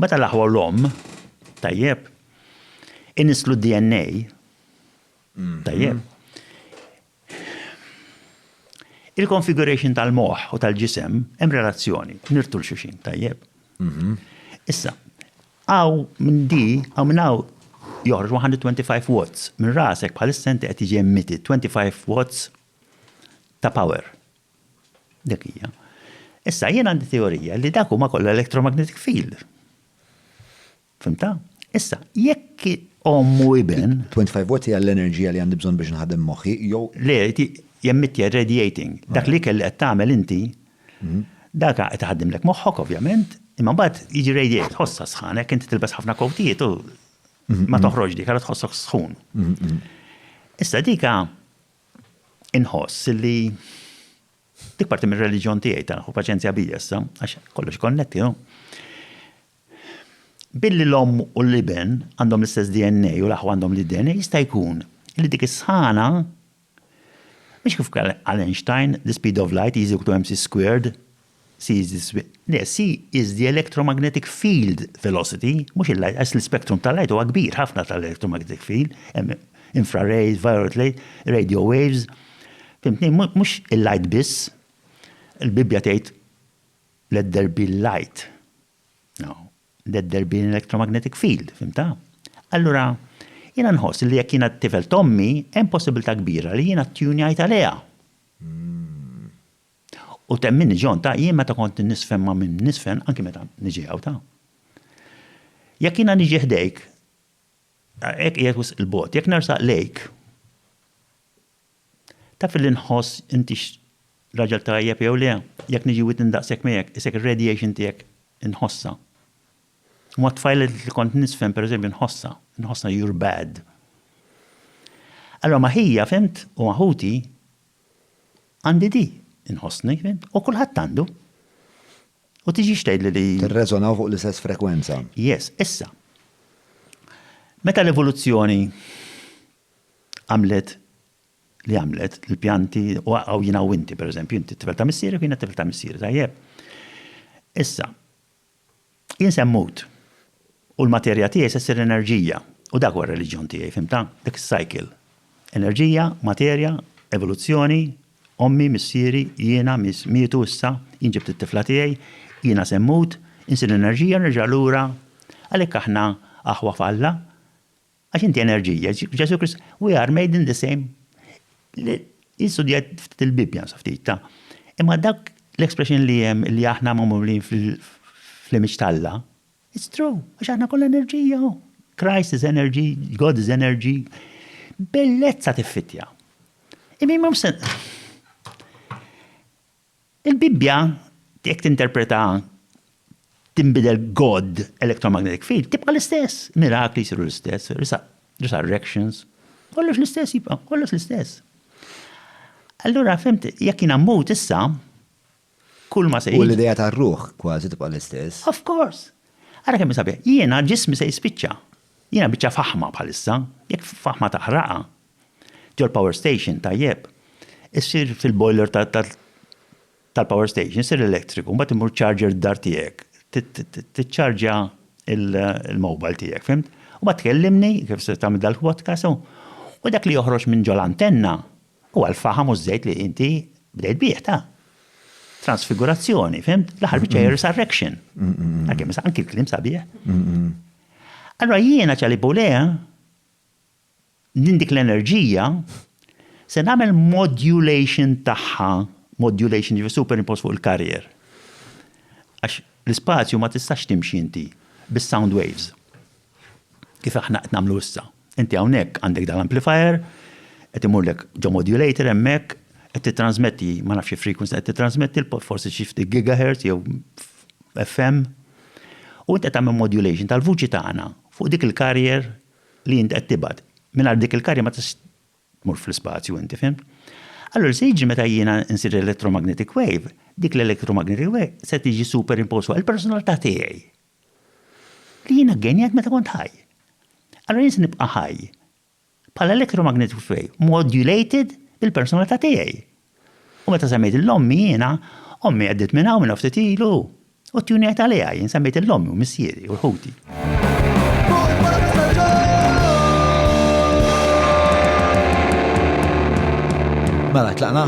Meta l-aħwa u l-omm, tajjeb, inisslu d-DNA, tajjeb, il-konfiguration tal-moħħ u tal-ġisem hemm relazzjoni, nirtu l xuxin, tajjeb. Issa, għaw minn di, għaw minn għaw joħroġ 125 watts minn rasek bħalissa inti qed jiġi emitti 25 watts ta' power. Dik hija. Issa jien għandi teorija li dak huma kollha electromagnetic field. Fimta? Issa, jekk ommu iben. 25 watt hija l-enerġija li għandi bżonn biex nħadem moħħi jew. Le, jemmittja radiating. Dak li kelli qed tagħmel inti, mhm. dak qed iħaddimlek moħħok ovvjament, imma mbagħad jiġi radiate, tħossha sħan, hekk inti tilbes ħafna kowtijiet u mhm, ma mhm. toħroġ dik, għara tħossok sħun. Issa dika Inħoss li dik parti mir-reliġjon tiegħi ta' ħu paċenzja bija issa, għax kollox konnetti, no? Billi l-om u l-iben għandhom l-istess DNA u l-aħwa għandhom l-DNA, jista' jkun li dik is-sħana mhix kif għal Einstein, the speed of light is equal to mc squared, C is the speed, le, C is the electromagnetic field velocity, mhux il-light, għax l-ispektrum tal-light huwa kbir ħafna tal-electromagnetic field, hemm infrared, violet rays, radio waves, fimtni, mhux il-light biss. Il-Bibbja tgħid let there be light. No, let there be an electromagnetic field, fimta? Allura, jiena nħoss li jekk jiena tifel tommi, hemm possibilità kbira li jiena ttunjajt għaliha. U temminni John, ta, jien meta kont inniżfen ma' min niżfen, anki meta niġi hawn, ta. Jekk jiena niġi ħdejk, hekk qiegħed wisq 'il bogħod, jekk nersaq lejk, taf illi nħoss intix raġel tajjeb jew le, jekk niġi widni daqshekk miegħek, isek ir-radiation tiegħek inħossha. U mat-tfajliet li kont niżfen pereżempju nħossha, nħossha you're bad. Allora ma' ħija, fhimt, u ma' ħuti, Għandi di, inħossni, u kulħadd għandu. U tiġix tgħidli li. Tirreżonaw fuq l-istess frekwenza. Yes, issa. Meta l-evoluzzjoni għamlet li għamlet, l-pjanti, u għaw jina u inti, per eżempju, inti t-tifel ta' missiri, kien t-tifel ta' missiri, tajjeb. Issa, Jien se mmut, u l-materja tiegħi se ssir enerġija, u dak huwa r-reliġjon tiegħi, fhimtha? Dik is-cycle. Enerġija, materja, evoluzzjoni, ommi, missieri, jiena, mietu issa, jien ġibt it-tifla tiegħi, jiena se mmut, insir enerġija u nerġa' lura. Għalhekk aħna aħwa f'Alla. Għax inti enerġija, Ġesu Krist, we are made in the same. Jistudjat ftit il-Bibja, nsa ftit ta' Imma dak l-expression li jem li aħna mamulin fl-image talla, it's true, għax aħna kollha enerġija. Oh. Christ is energy, God is energy. Bellezza tiffitja. Imi ma Il-Bibbja, jekk tinterpreta tinbidel God electromagnetic field, tibqa' l-istess, mirakli jsiru l-istess, resurrections, kollox l-istess jibqa', kollox l-istess. Allura fimt, jekk jiena mmut issa, kull ma se U l-idea tar-ruħ kważi tibqa' l-istess. Of course! Ara kemm hi sabiħa. Jiena ġismi se jispiċċa. Jiena biċċa faħma bħalissa, jekk faħma taħraqha, Ġol-power station, tajjeb, issir fil-boiler tal-power station, issir l-elettriku, mbagħad imur charger d-dar tiegħek, tiċċarġja il-mobile tiegħek, fimt? U bat tkellimni, kif se tagħmel dal-podcast, u dak li joħroġ minn ġol antenna u għal-faham u żejt li inti bdejt bih ta' transfigurazzjoni, fimt? L-aħħar biċċa hija resurrection. Għakim, anki l-klim sabiħ. Allora jiena ċali bulea, Din dik l-enerġija se nagħmel modulation tagħha, modulation jiġifieri superimpost fuq il-carrier. Għax l-ispazju ma tistax timxi inti bis-sound waves kif aħna qed nagħmlu issa. Inti hawnhekk għandek dal-amplifier, qed imurlek ġo modulator hemmhekk, qed tittrażmetti ma nafx xi frequency qed tittrażmetti, forsi xi ftit gigahertz jew FM, u inti qed tagħmel modulation tal-vuċi tagħna fuq dik il-carrier li int qed tibgħat. Mingħajr dik il-karja ma tistax tmur fl-ispazju inti, fhimt? Allura se jiġri meta jiena nsir electromagnetic wave, dik l-electromagnetic wave se tiġi superimposed fuq il-personalità tiegħi. Li jiena ggenjajt meta kont ħaj. Allura jien se nibqa' ħaj bħala electromagnetic wave modulated bil-personalità tiegħi. U meta semmejt l-ommi jiena, ommi għeddiet minn hawn minna ftit ilu, u t-tjuni għedt għaliha, jien semmejt lill-ommi u missieri u l-ħuti. Mela tlaqna?